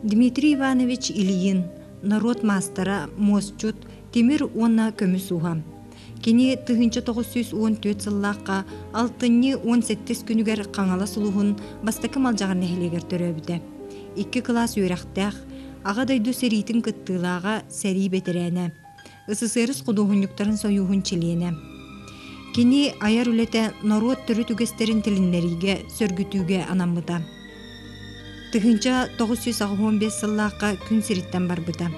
Дмитрий Иванович Ильин норуот маастара, муосчут, тимир уонна көмүс уһа. Кини тыһыынча тоғыз сүүс уон түөрт сыллаахха алтынньы уон сэттис күнүгэр Хаҥалас улуһун бастакы Малдьаҕар нэһилиэгэр төрөөбүтэ. Икки кылаас үөрэхтээх, Аҕа дойду сэриитин кыттыылааҕа, сэрии бэтэрээнэ. СССР худуоһунньуктарын сойууһун чилиэнэ. Кини айар үлэтэ норуот төрүт үгэстэрин тилиннэриигэ, сөргүтүүгэ анаммыта. Тыһыынча 915 сыллаахха күн сириттэн барбыта.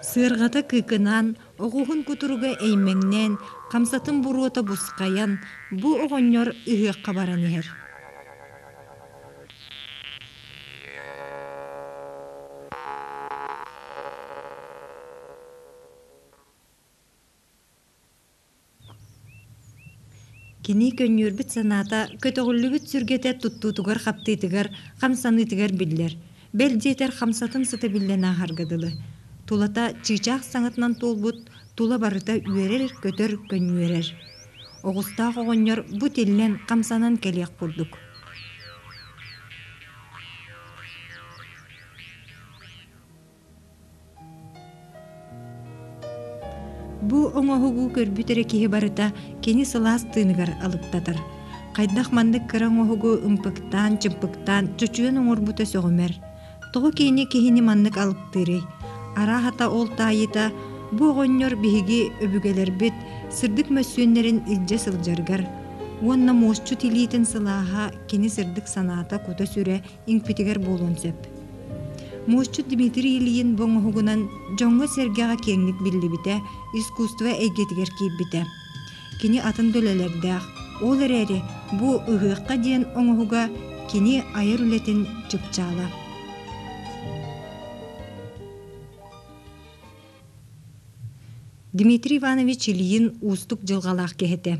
Сыарҕата кыыкынаан, оҕуһун кутуруга эймэҥнээн, хамсатын буруота бусхайан, бу оҕонньор ыһыахха баран иһэр. Кини көнньүөрбүт санаата көтөҕүллүбүт сүргэтэ туттуутугар-хаптыытыгар, хамсаныытыгар биллэр. Бэл диэтэр хамсатын сытабиллэн ааһарга дылы. Тулата чыычаах саҥатынан туолбут тула барыта үөрэр-көтөр, көнньүөрэр. Оҕустаах оҕонньор бу тиллэн, хамсанан кэлиэх курдук. Бу оҥоһугу көрбүт эрэ киһи барыта кини сылаас тыыныгар алыптатар. Хайдах маннык кыра оҥоһугу ымпыктаан, чымпыктаан чочуйан оҥорбута сөҕүмэр. Тоҕо кини киһини маннык алыптыырый? Арааһата ол таайыта бу оҕонньор биһиги өбүгэлэрбит сырдык мөссүөннэрин илдьэ сылдьаргар уонна муосчут илиитин сылааһа кини сырдык санаата кута-сүрэ иҥпитигэр буолуон сөп. Муосчут Дмитрий Ильин бу оҥоһугунан дьоҥҥо-сэргэҕэ киэҥник биллибитэ, искусство эйгэтигэр киирбитэ. Кини атын дүлэлэрдээх, ол эрээри бу «Ыһыахха» диэн оҥоһуга кини айар үлэтин чыпчаала. Дмитрий Иванович Ильин уустук дьылҕалаах киһи этэ.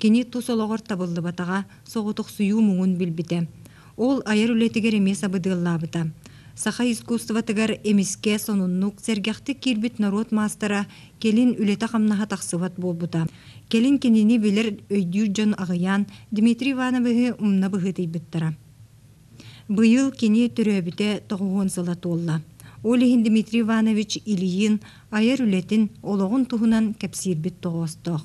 Кини тус олоҕор табыллыбатаҕа, соҕотохсуйуу муҥун билбитэ. Ол айар үлэтигэр эмиэ сабыдыаллаабыта. Саха искусствотыгар эмискэ сонуннук, сэргэхтик киирбит норуот маастара кэлин үлэтэ-хамнаһа тахсыбат буолбута. Кэлин кинини билэр өйдүүр дьон аҕыйаан Дмитрий Ивановиһы умна быһыытыйбыттара. Быйыл кини төрөөбүтэ тоҕуһуон сыла туолла. Ол иһин Дмитрий Иванович Ильин айар үлэтин, олоҕун туһунан кэпсиирбит тоҕоостоох.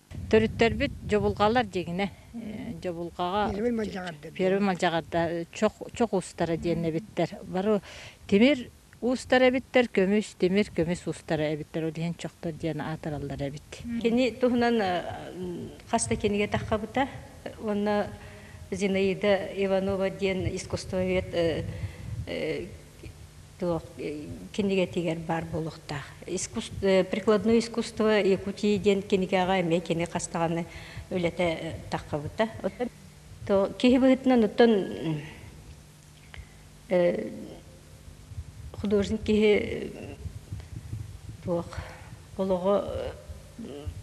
Төрүттэрбит дьобулҕалар дигине дьобулҕаҕа первый мадьаҕарда чох чох устара диэннэбиттэр бары тимир устара эбиттэр көмүс тимир көмүс устара эбиттэр ол иһин чохтор диэн аатыраллар эбит кини туһунан хас да кинигэ таххабыта уонна Зинаида Иванова диэн искусствовед кинигэтигэр баар буолуохтаах. Прикладное искусство Якутии диэн кинигэҕэ эмиэ кини хастаҕаны үлэтэ таххабыта. то киһи быһыытынан оттон художник киһи туох олоҕо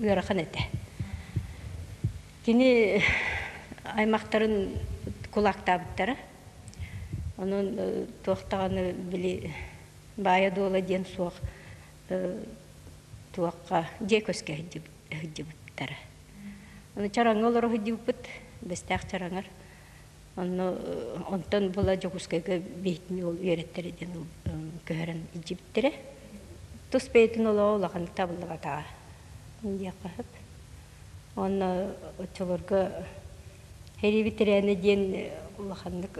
ыарахан этэ. Кини аймахтарын кулаактаабыттара. Онон туох даҕаны били баайа-дуола диэн суох туохха дьиэ көскө сылдьыбыттара. Аны чараҥҥа олоро сылдьыбыппыт, Бэстээх Чараҥар. Онно онтон була Дьокуускайга бэйэтин уол үөрэттэрэ диэн көһөрөн илдьибиттэрэ. Тус бэйэтин олоҕо улаханнык табыллыбатаҕа диэххэ сөп. Уонна оччолорго Херибит Рене диэн улаханнык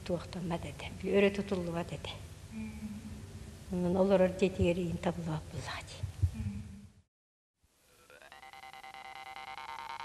туохтаммат этэ, өрө тутуллубат этэ. Онон олорор дьиэтигэр иин табыллыбат буоллаҕа дии.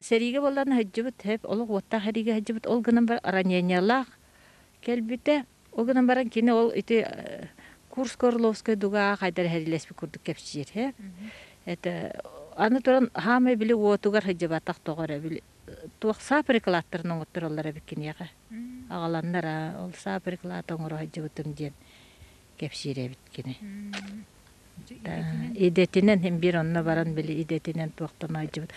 Сэриигэ буоллар сылдьыбыт, олох уоттаах сэриигэ сылдьыбыт. Ол гынан баран ранениелаах кэлбитэ. Ол гынан баран кини ол ити курс Горловскай дугаа хайдары сэриилэспит курдук кэпсиир. Это аны туран саамай били уотугар сылдьыбатах тоҕо эрэ били туох саа прикладтарын оҥоттороллор эбит киниэхэ. Аҕаланнара ол саа приклад оҥоро сылдьыбытым диэн. кэпсиирэбит кини идэтинэн хин биир онно баран били идэтинэн туохтан айдьыбыт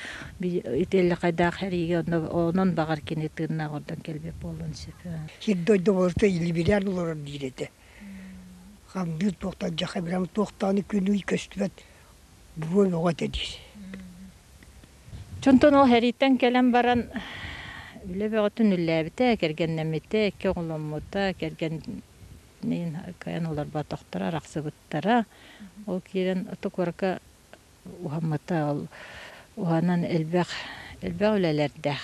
итэллэхайдаах эриигэ онон баҕар кини тыыннаах ордон кэлбиэ буолуон сөп сир дойду болото илибиляр олорор диир этэ хамдыыр туохтан дьаха бирам туохтааны күнүй көстүбэт буруон оҕо этэ диир Чонтон ол хэрийтэн кэлэн баран үлэ бөҕөтүн үллээбитэ кэргэннэммитэ экке оҕоломмута кэргэн Мин кыайан олорботохторо, арахсыбыттара. Ол киирэн токуорка уһаммыта, ол уһанан элбэх, элбэх үлэлэрдээх.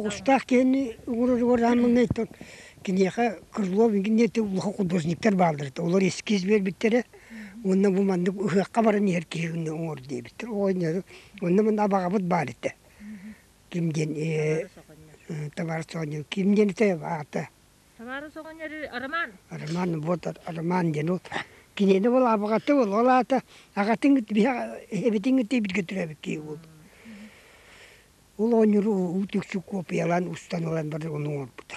Оҕустаах киһини оҥороругар аамаҥҥайтан киниэхэ крыло гинеты улахан художниктар бааллар этэ. Олор эскиз биэрбиттэрэ уонна бу маннык ыһыахха баран иһэр киһини оҥор диэбиттэр. Оҕонньору уонна манна абаҕабыт баар этэ. Ким диэн э, э, табаарыс оҕонньор ким диэн этэ аата Самаарын соҕонньор Роман. Роман вот Роман диэн ол кинини ол абыгаты ол ол аата агатын эбитин тибитгэ түрөбүт кии ол ол оонньур уу түксү копиялан устан ылан бар оны оҥорбута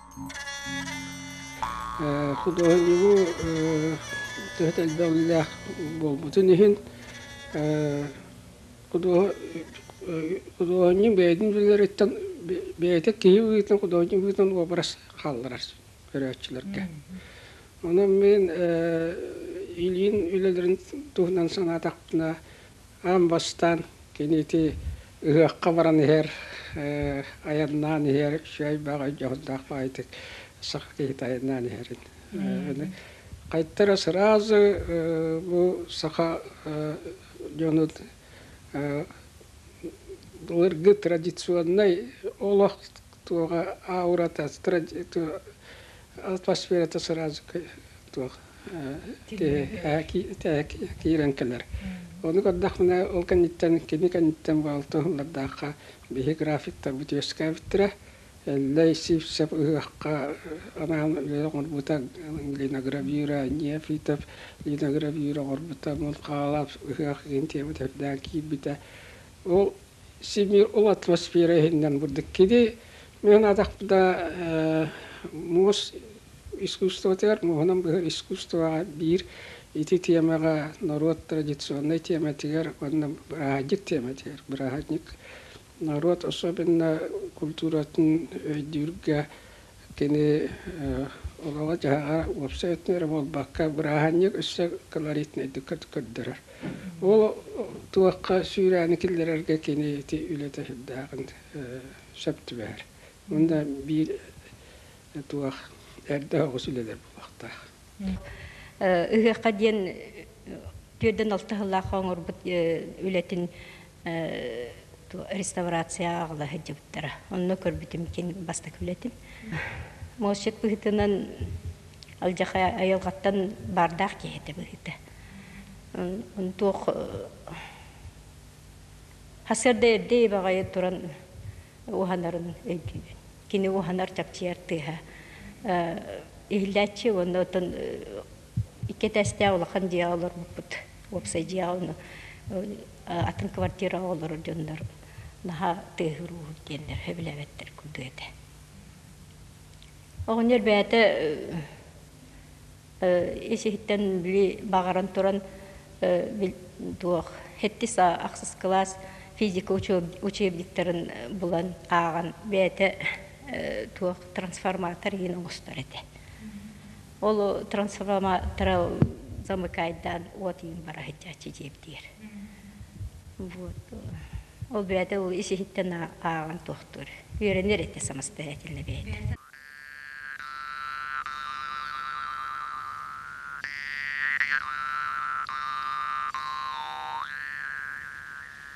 Худуоһунньугу төһө да элбэҕилээх буолбутун иһин худуоһунньук бэйэтин үлэлэриттэн бэйэтэ киһи быһыытынан худуоһунньук быһыытынан уобарас хаалларар көрөөччүлэргэ. Онон мин илиин үлэлэрин туһунан санаатахпына аан бастаан кини ити Ыһыахха баран иһэр, айаннаан иһэр, үчүгэй элбэх өйдөөһүннээх баҕайытык саха киһитэ айаннаан иһэрин. Хайта эрэ сразу бу саха дьонун былыргы традиционнай олох туоҕа аурата атмосферата сразу туох киирэн кэлэр. Ону көрдөхпүнэ ол кэнниттэн кини кэнниттэн баалта сыллардаахха биһи графиктарбыт үөскээбиттэрэ. Эллэй Сивцев ыһыахха анаан үөрэх оҥорбута Лина Гравюра, Нефитов Лина Гравюра оҥорбута, мун хаалап ыһыах интиэбит эрдээн киирбитэ. Ол Сибиир ол атмосфера иһиннэн бурдук киди. Мен атахта муос искусствотыгар муһунан быһыр искусствоҕа биир ити темаҕа норуот традиционнай тематыгар уонна бырааһынньык тематыгар бырааһынньык норуот особенно культуратын өйдүүргэ Кини оҕоҕо-дьаһаҕа уопсай өттүн эрэ буолбакка, бырааһынньык өссө колоритнайдык көрдөрөр. Ол туохха сүүрээни киллэрэргэ кини ити үлэтэ сүрдээҕин сөп түбэһэр. Мында биир туох эрдэ оҕус үлэлэр буолуохтаах. Ыһыахха диэн түөрдэн алта сыллаах оҥорбут үлэтин реставрацияҕа аҕала сылдьыбыттара онно көрбүтүм кин бастакы үлэтим мосчет быһыытынан алдьархай айылҕаттан баардаах киһи этэ быһыыта туох хасырда эрдэ ибаҕайы туран уһанарын кини уһанар чапчыйар тыаһа иһиллээччи уонна оттон Икки этээстээх улахан дьиэҕэ олормуппут. Уопсай дьиэҕэ ону атын квартираҕа олорор дьоннор наһаа тыаһыруу диэннэр сөбүлээбэттэр курдук этэ. Оҕонньор бэйэтэ ис-иһиттэн били баҕаран туран туох сэттис ахсыс кылаас физика учебниктарын булан ааҕан бэйэтэ туох трансформатор иһин оҥостор этэ. Ол трансформатор замыкайдан от иин бара сылдьааччы диэбитигэр. Вот. Ол бэйэтэ ол исиһиттэн ааҕан тохтуур. Үөрэнэр этэ самостоятельно бэйэтэ.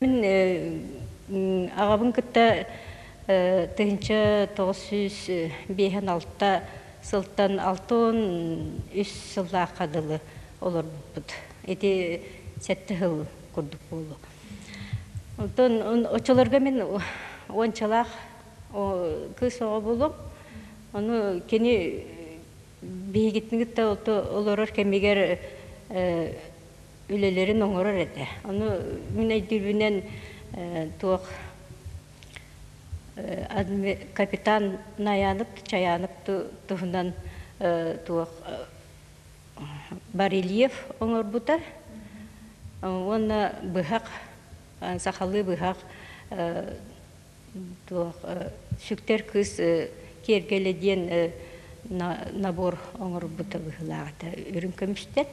Мин аҕабын кытта тыһыынча тоҕус сүүс биэһин алта сылтан алта уон үс сыллаахха дылы олорбуппут. Ити сэттэ сыл курдук буолуо. Онтон оччолорго мин уончалаах кыыс оҕо буолуом. Ону кини биһигитин кытта олорор кэмигэр үлэлэрин оҥорор этэ. Ону мин өйдүүбүнэн туох капитан Наянык Чаянып туһунан туох барельеф оҥорбута уонна быһах сахалыы быһах Туох сүктэр кыыс киэргэлэ диэн набор оҥорбута быһыылаах этэ үрүҥ көмүстэр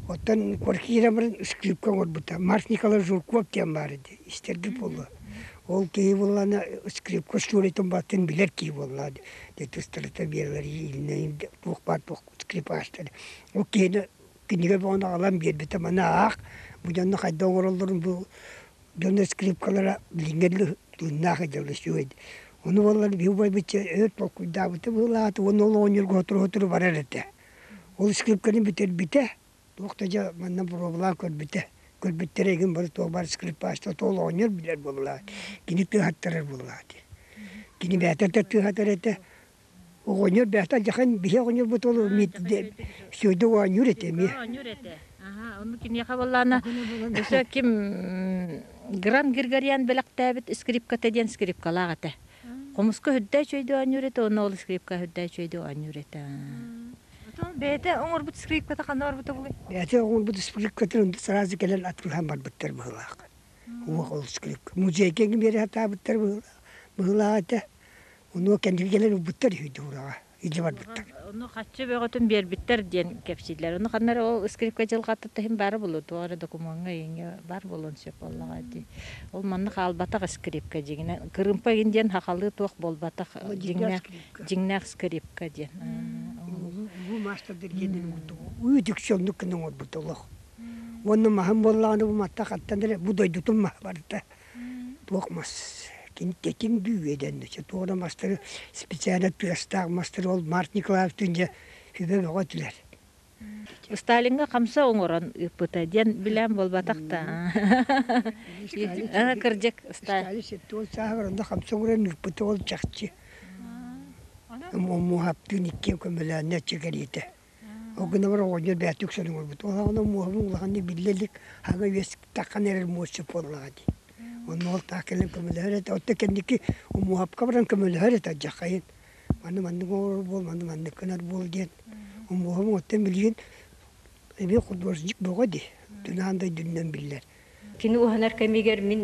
Оттон квартирабын ыскыыпка оҥорбута Марс Николаевич Журков диэн баар ити истэрбит буолла. Ол киһи буоллаҕына скрипка остуоруйатын баҕатын билэр киһи буоллаҕа дьиэтэ ыстарыта биэрэлэригэр иилинэйин туох баар туох скрипаачтары. Ол киһини кинигэ бөҕөнү аҕалан биэрбитэ маны аах бу дьону хайдах оҥороллорун бу дьоно скрипкалара билиҥҥи дьылы тыыннаах дьыала үчүгэй ону буоллар биһи убайбыт өр толкуйдаабыта быһыылаах уонна ол оҕонньорго сотору-сотору барар этэ Ол скрипканы бүтэрбитэ, туох да дьэ манна боруобалаан көрбүтэ. Көрбүттэрэ игин бары туох баар скрипачта тоол оҕонньор билэр буоллаҕа. Кини тыаһаттарар буоллаҕа дии. Кини бэйэтэ да тыаһатар этэ. Оҕонньор бэйэтэ дьахан биһи оҕонньорбут ол сүөдэ оонньуур этэ эмиэ. Оонньуур этэ. Аһа ону киниэхэ буоллаҕына өссө ким Гран Григориан бэлэхтээбит скрипката диэн скрипкалаах этэ. Хомуска үрдээч өйдө оонньуурета уонна ол скрипка үрдээч өйдө оонньуурета. Бэйэтэ оҥорбут скрипката ханна барбыта бугай? Бэйэтэ оҥорбут скрипкатын онно сразу кэлэн атыылаан барбыттар быһыылаах. Уох ол скрипка. Музейга биэрэ сатаабыттар быһыылаах быһыылаах этэ. Онуо кэнники кэлэн ылбыттар үһүйдуураҕа. илдьэ барбыттар. Ону хаччы бөҕөтүн биэрбиттэр диэн кэпсииллэр. Ону ханна эрэ ол скрипка дьылҕаттан иһин баара буолуо, туох эрэ докумуоҥҥа иҥэ баар буолуон сөп буоллаҕа дии. Ол манна хаалбатах скрипка дьиҥинэ. Кырыымпа иҥин диэн хахалыы туох буолбатах дьиҥнээх дьиҥнээх скрипка диэн. Бу маастардар диэннэрин курдук үөдүксүннүк гына оҥорбут олох. Уонна маһым буоллаҕына бу матта хаттан эрэ бу дойдутун маһа барыта Туох мас кимтэтин бүүйэдэн дьэ туох да мастары специально тыастаах мастары ол Март Николаевтыын дьэ сүбэ бөҕө этилэр. Сталиҥҥа хамса оҥорон ыыппыта диэн билээн буолбатах да. Кырдьык. Сталин сеттуон сааһыгар онно хамса оҥорон ыыппыта ол чахчы. Муоһаптыын иккиэн көмөлөөннө чэ кэлиитэ. Ол гынабар оҕонньор бээтик үксүн оҥорбут. Ол аҕана муоһабын улаханнык биллэ илик аһыга үөскэтэххинэ эрэр муосча буоллаҕа дии. Онно уолтаах кэлэн көмөлөһөр этэ. Оттон кэнники муоһапка баран көмөлөһөр этэ алдьархайын. Манна маннык оҥорор буол, манна маннык гынар буол диэн. Муоһабын оттон билигин эбиэт художник бөҕө дии. Түн аан дойдунан биллэр. Кини уһанар кэмигэр мин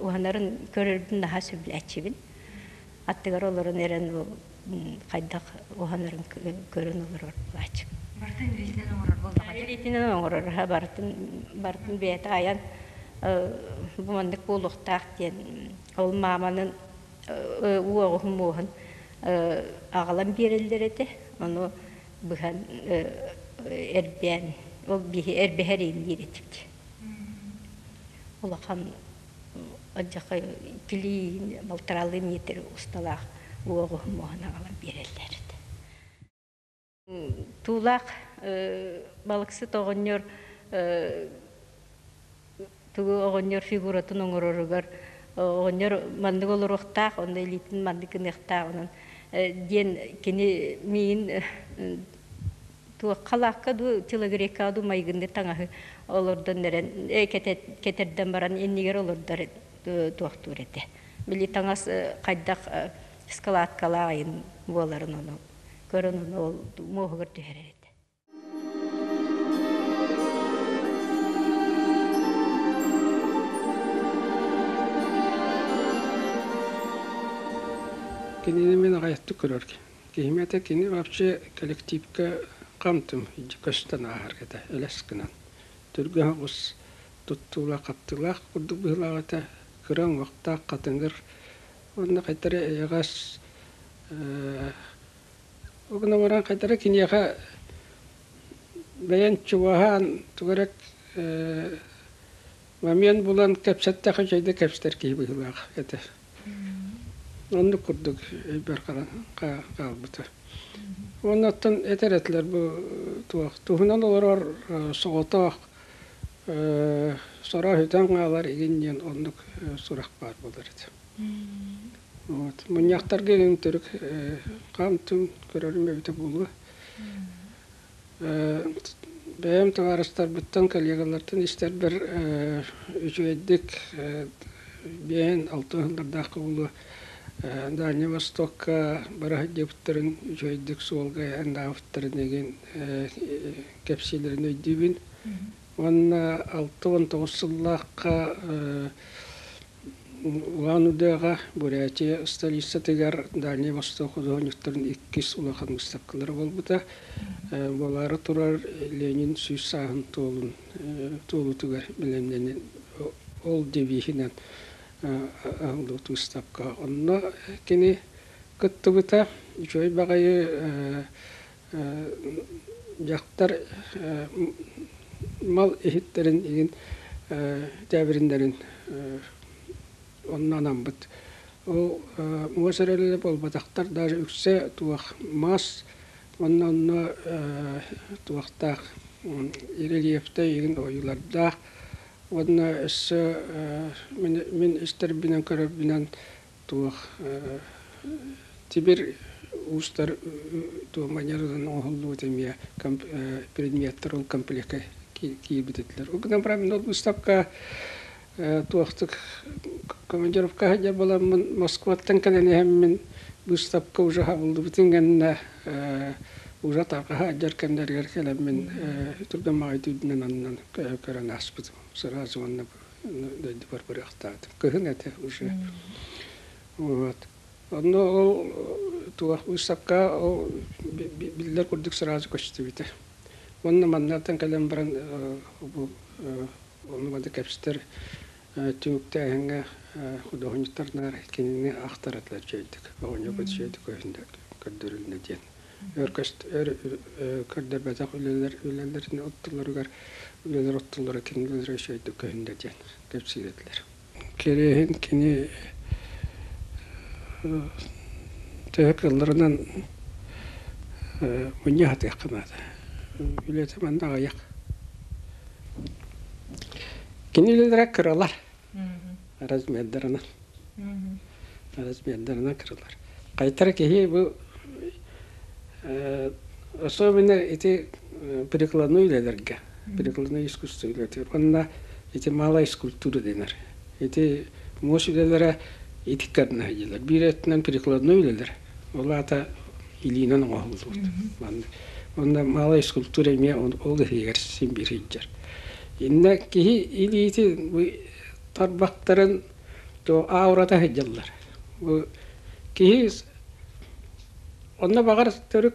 уһанарын көрөрбүн наһаа сөбүлээччибин. Аттыгар олорон эрэн ол хайдах уһанарын көрөн олорор булааччым. Барытын илиитинэн оҥорор буоллаҕа Илиитинэн оҥорор, барытын барытын бэйэтэ айан бу маннык буолуохтаах диэн ол мааманын уоҕуһун муоһун аҕалан биэрэллэр этэ. Ону быһан эрдээн ол биһи эрбэһэриин диир этибит улахан адьака килиин балтаралыы миэтир усталаах уоҕуһун моһана ала биэрэллэр этэ туулаах балыксыт оҕонньор Тугу оҕонньор фигуратын оҥороругар оҕонньор маннык олоруохтаах, онно илиитин маннык гыныахтаах онон диэн кини миин туох халаакка дуу телогрейкаҕа дуу майгыннык таҥаһы олордон эрэн кэтэрдэн баран иннигэр олордор туохтуур этэ. Били таҥас хайдах складкалаах айын буоларын ону көрөн ол муоһугар түһэрэр этэ. Кинини мин аҕайдык көрөргө. Киһим этэ кини вообще коллективка хамтым көстөн ааһаргата элэс гынан. Түргэн оҕус туттуулаах-хаптыылаах курдук быһыылаах этэ. Кыра уҥуохтаах хатыҥыр уонна хайтары эйэҕэс Ол гынан баран хайдара киниэхэ бэйэн чугаһаан тугу эрэ момент булан кэпсэттэххэ үчүгэй да кэпсэтэр киһи быһыылаах этэ. Оннук курдук өйбөр хаалбыта. Уонна оттон этэр этилэр бу туох туһунан олорор соҕотох сорох сүтэн хаалар игин диэн оннук сурах баар буолар этэ Вот. Мунньахтарга илин төрүк хаамтым көрөрүм эбитэ буолуо. Бэйэм табаарыстарбыттан, коллегалартан истэрбэр үчүгэйдик биээн алта ыһыллардаахха буолуо Дальний Востокка бара сылдьыбыттарын үчүгэйдик суолга айаан даабыттарын игин кэпсиилэрин өйдүүбүн. Уонна алта уон тоҕус сыллаахха Улаан Удыаҕа Бурятия столицатыгар Дальний Восток худуоһунньуктарын иккис улахан быыстапкалара буолбута. Буолаары турар Ленин сүүс сааһын туолун туолуутугар бэлэмнэнэн ол девиһинэн аһыллыбыт быыстапка. Онно кини кыттыбыта. Үчүгэй баҕайы дьахтар мал иһиттэрин игин тээбириннэрин онно анаммыт. Ол муос эрэлэ буолбатахтар даже үксэ туох мас уонна онно туохтаах рельефтэй игин ойуулардаах уонна өссө мин мин истэрбинэн көрөрбүнэн Туох Тимир уустар туоманьар ылан оҥоһуллубут эмиэ предметтэр ол комплекка киирбит этилэр. Ол гынан баран мин ол быыстапка туохтук командировка сылдьар буоламмын Москваттан кэлэн иһэммин быыстапка уже хабыллыбытын кэннэ уже тарҕаһа сылдьар кэмнэригэр кэлэммин турган маҕай түүрдүнэн аннан көрөн ааспытым сразу уонна дойдубар бырахтаат, кыһын этэ уже. Вот. Онно ол туох выставка ол биллэр курдук сразу көстүбүтэ. Уонна маннартан кэлэн баран бу ону бада кэпстер түмүктээһиҥҥэ худуоһунньуктарнаар кинини ахтаратылар чөйдүк оҕонньорбут чөйдүк көрдөрүлнэ диэн көрдөрбөтөх үлэлэр үлэлэрин оттолоругар үлэлэр оттолоро кинилэр өйдөй көһүн да диэн кэпсиирилэр кириэһин кини төһө кылларынан муньа хатыахха маата үлэтэ манна аҕыйах кини үлэлэрэ кыралар размердарынан размердарынан кырылар кайтара киһи бу особенно ити прикладной үлелерге прикладной искусство үлетир онна ити малай скульптура денер ити мос үлелере ити карна билер биир өттүнэн прикладной үлелер Ол аата илиинэн оҥоһуллубут. Онно малай скульптура эмиэ ол иһигэр симбир сылдьар. Иннэ киһи илиити бу тарбахтарын аурата сылдьаллар. Бу киһи онно баҕар төрүт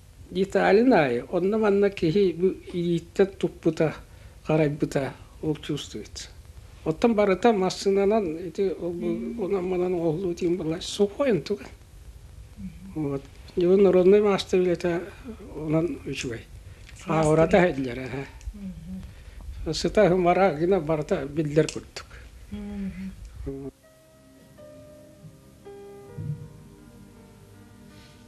Италин аайы онно-манна киһи бу илииттэн туппута, харайбыта ол чувствует. Оттон барыта массыынанан ити ол бу онон-манан оҕолуу диэн буолар сухой онтуган. Вот. Его народной маастар үлэтэ онон үчүгэй. Хаавырата иһэллэр эһэ. Сыта ымара гына барыта биллэр курдук.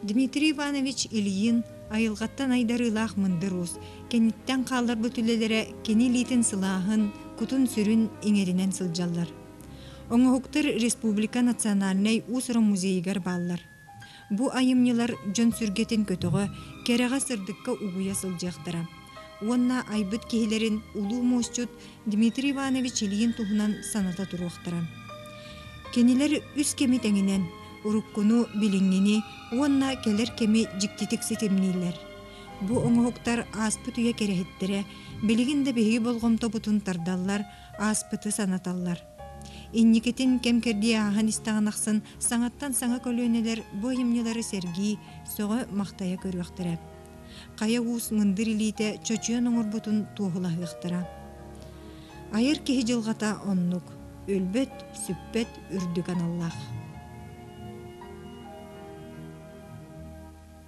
Дмитрий Иванович Ильин айылҕаттан айдарыылаах мындыр уус, кэнниттэн хаалларбыт үлэлэрэ кини илиитин сылааһын, кутун-сүрүн иҥэринэн сылдьаллар. Оҥоһуктар республика национальнай уус-уран музейыгар бааллар. Бу айымньылар дьон сүргэтин көтөҕө, кэрэҕэ сырдыкка угуйа сылдьыахтара. Уонна айбыт киһилэрин улуу муосчут Дмитрий Иванович Ильин туһунан саната туруохтара. Кинилэр үс кэми тэҥинэн уруккуну, билиҥҥини уонна кэлэр кэми дьиктитик ситимнииллэр. Бу оҥоһуктар ааспыт үйэ кэрэһиттэрэ билигин да биһиги болҕомтобутун тардаллар ааспыты санаталлар. Инникитин кэм-кэрдии ааһан истэҕин ахсын саҥаттан саҥа көлүөнэлэр бу айымньылары сэргии, сөҕө-махтайа көрүөхтэрэ. Хайа уус мындыр илиитэ чочуйан оҥорбутун туоһулаһыахтара. Айар киһи дьылҕата оннук, өлбөт, сүппэт үрдүк аналлаах.